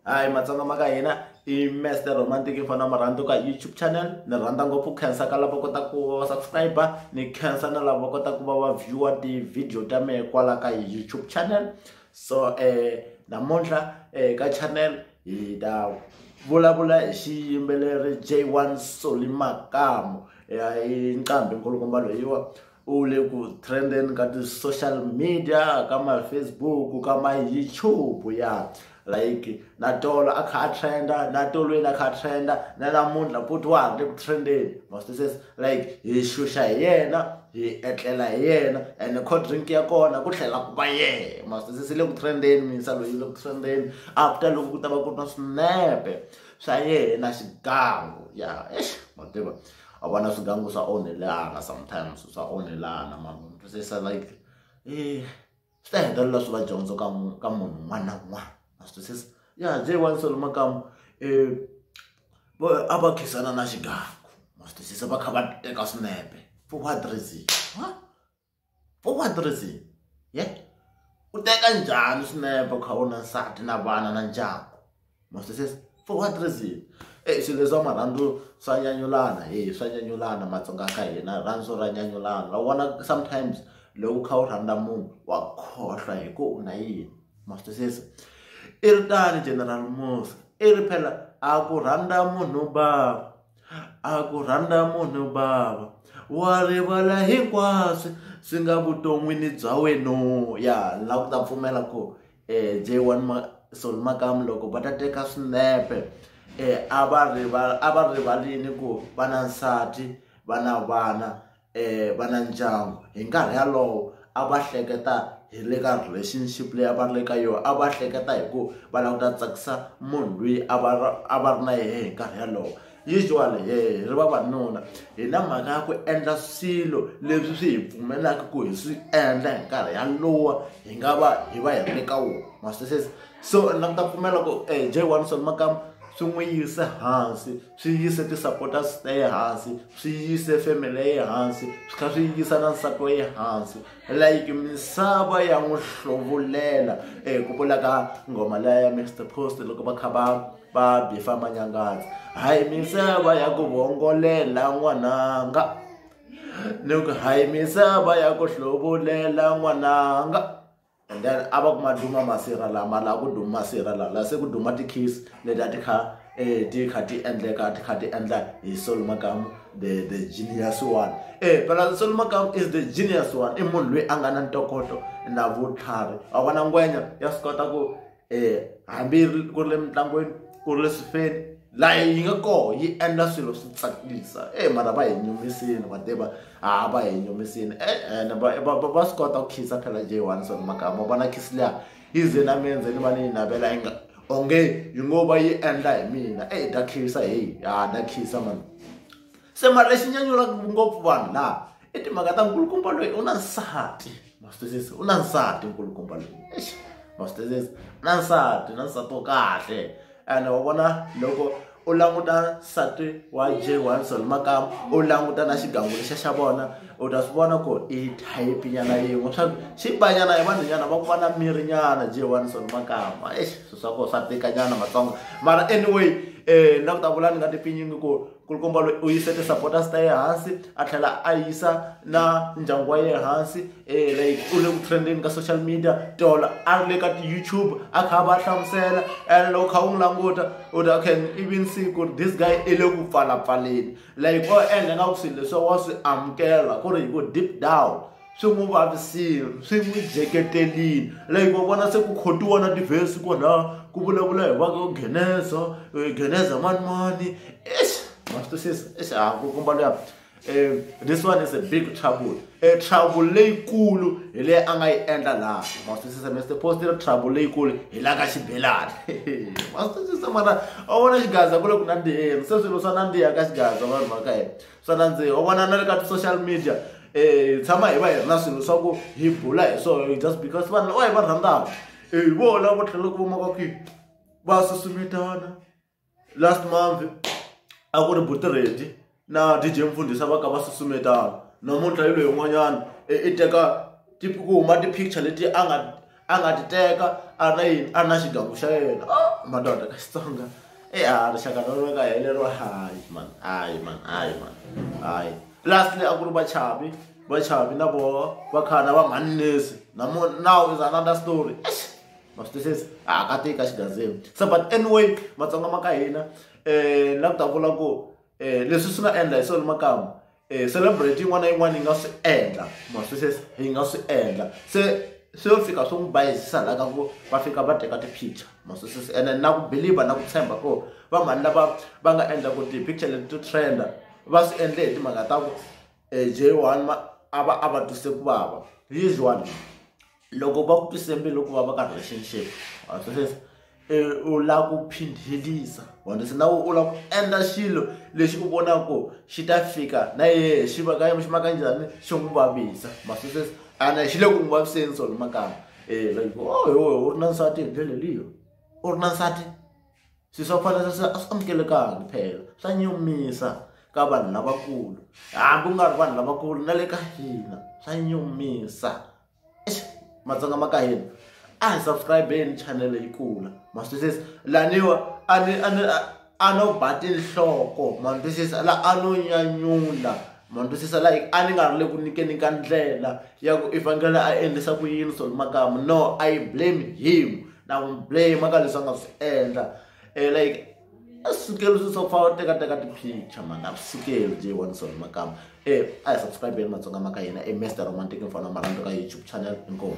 hayi matsonga ma ka hina i master romantic i fana marhandzu ka youtube channel ni rhandza ngopfu khensa ka lava kota ku va subscriber ni khensa na lava kota ku va va viewer ti-video ta mehe kwala ka youtube channel so um namuntlha um ka channel hi ta vulavula hi xiyimbeleri j one soli makamu i nqambi nkulukumba loyiwa u le ku trendeni ka ti-social media ka ma-facebook ka ma-youtube ya like na tolo a kha a trenda na tolweni a kha a trenda na namuntlha futhi wa ha ri le ku trendeni mastises like hi xuxa hi yena hi etlela hi yena ene cold drink ya kona ku tlhela ku va yena mastises yi le ku trendeni minsa loyi yi le ku trendeni after loko ku ta va ku ri na swinepe swa yena xigangu ya exi ma tiva a vona swigangu swa onhelana sometimes swa onhelana mara u twisisa like eh swi ta hetelela swi va dyondzo ka ka munhu un'wana na un'wana a swi twisisa ya j one solo makamu um a va khisana na xigangu ma swi twisisa va kha va teka swinepe for what reason u nga tirhisi ye u teka njhani swinepe u kha u na nsati na vana na ndyangu ma swi twisisa for what reason e swilo leswa marhandzu swa nyanyulana he swa nyanyulana matsonga ka hina rirhandzu ra nyanyulana wa vona sometimes loko u kha u rhandza munhu wa khohlwa hi ku u na yini ma swi twisisa i ri tano general mos i ri phela a ku rhandza munhu bava. a ku rhandza munhu bava wa rivala hinkwaswo swi nga vuton'wini bya wena ya ni lava ku ta pfumela ku um eh, j one sol makamu loko va ta teka swinepe um a va rivala a va rivalini ku va na nsati va na vana um va na ndyangu hi nkarhi wolowo a va hleketa hi le ka relationship leyi a va ri le ka yona a va hleketa hi ku va lava ku ta tsakisa munhu loyi a va a va ri na yena hi nkarhi wolowo usually hi ri vavanuna hi na mhaka ya ku endla swilo leswi swi hi pfumelaka ku hi swi endla hi nkarhi wolowo hi nga va hi va hi ri le ka wona ma swi twisisa so ni ta pfumela ku J one Soni Makamu swi n'wi yisa hansi. swi yise ti-supporters ta ye hansi swi yise family ya ye hansi swi kha swi yisa na nsati wa ye hansi like misava ya n'wi hlovulela e ku vula ka nghoma leya ya mixter post loko va kha va va bifa manyangazi hayi misava ya ku vongolela n'wananga ni ku hayi misava ya ku hlovulela n'wananga and then a va ku ma duma masirha lama laha ku duma masirha laha laha se ku duma ti-kiss leti a ti kha um ti kha ti endleka ti kha ti endla hi solo makamu the the genius one e phela solo makamu is the genius one i munhu loyi a nga na ntokoto na vutlhari a vona ngwenya ya swi kota ku hambi ku ri le mitlangwini ku ri le swifeni laha yi nga kona yi endla swilo swi tsakisa e mara va hi nyumisile va tiva ha va hi nyumisile ene va va va va swi kota ku khiza phela j one swa makama vona khizi liya yi ze na mina ndzeni va ni yi navela yi nga onge yi ngo va yi endla hi mina e ta khisa heyi ha ta khisa mani. se mara lexi nyanyulaka ngopfu vanhu laha i timhaka ta nkulukumba loyi u na nsati ma swi twisisa u na nsati nkulukumba loyi exi ma swi twisisa u na nsati na nsati wo kahle ene wa vona loko u languta nsati wa j wilson makama u languta na xigangu lexa xa vona u ta swi vona ku i thayipi nyana yin'we swa xi banyana hi vanhu nyana va ku va na miri nyana j wilson makama exi swilo swa kona swa tika nyana matsonga mara anyway um na ku ta vula ni nga tipfinyingi ku nkulukumba loyi u yise ti-supporters ta ye hansi a tlhela a yisa na ndyangu wa ye hansi um like u le ku trendeni ka social media tolo a ri le ka ti-youtube a kha a va hlamusela and loko kha u n'wi languta u ta okay even siku ri this guy i le ku pfalapfaleni like o endla nga ku swilo leswi wa swi amukela ku ri hi ku deep down swi n'wi vavisile swi n'wi jeketelile like wa vona se ku khotiwa na tivhesi kwalaha ku vulavula hi vaka geneza eh, geneza manimani eish ma swi twisisa eish a ku komba luya um this one is a big trouble e trouble leyikulu hi leyi a nga yi endla laha ma swi twisisa mr post ri trouble leyikulu hi la ka xibelani ma swi twisisa mara a vona xigaza ku le ku nandziheni se swilo swa nandziha ka xigaza vanhu va ka hina swa nandziha u vona na le ka ti-social media um hi tshama hi va hi ri na swilo swa ku hi bula hi swona just because vanhu va hi va rhandzaka hi vona vo tlhela ku vumaka kwihi va susumetana last month a ku ri butiredi na dj mfundhisa va ka va susumetana namuntlha yi loyi yin'wanyana i teka ku huma ti-picture leti a nga a nga ti teka a ri na yini a ri na xigangu xa yena o oh, madoda ka xitsonga e a rixaka ra rona ka helero hayi man hayi man hayi man hayi lastly a ku ri vachavi vachavi na voho va khana va mhannisi namo now is another story ma swi twisisa a ka tika xigazini so but anyway matsonga ma ka hina um la ku ta vula ku um leswi swi nga endla hi swona makamu e celebrate yin'wana na yin'wana yi nga swi endla ma swi sweswi yi nga swi endla se swi yo fika swi n'wi bayizisa laha ka ku va fika va teka ti-picture ma swi sweswi ene na ku believe na ku tshemba ko va mhani lava va nga endla ku ti-picture leti to trenda va swi endle hi timhaka ta ku e j one a va a va twise ku vava usually loko va ku twise mbilu ku va va ka relationship wa twisisa u lava ku phindhelisa wena se na u lava ku endla xilo lexi u vonaka ku xi ta fika na yehe xi va ka xi ma ka njhani xi n'wi vavisa ma twisisa ene xi le ku n'wi vaviseni sona makama um like o oh, yowe u ri na nsati hi ndlela leyo u ri na nsati swi swa ku fana swa a swi amukelekangi phela swa nyumisa ka vanhu lavakulu hambi u nga ri vanhu lavakulu na le ka hina swa nyumisa matsonga ma ka hina a hi subscribeni channel yi kula ma swi twisisa laniwa a ni a ni a no ba tinhloko ma ni twisisa la a no nyanyula ma ni twisisa la a ni nga ri le ku nyikeni ka ndlela ya ku i fanekele a endlisa ku yini solo makamu no i blame him na n'wi blame ka leswi a nga swi endla um like asukeli swi swa fana teka teka ti-picture mhani asukeli j one sona makama um a hi subscribe yeni matsonga ma ka hina i master romantic mfana wa marhandu ka youtube channel inkomu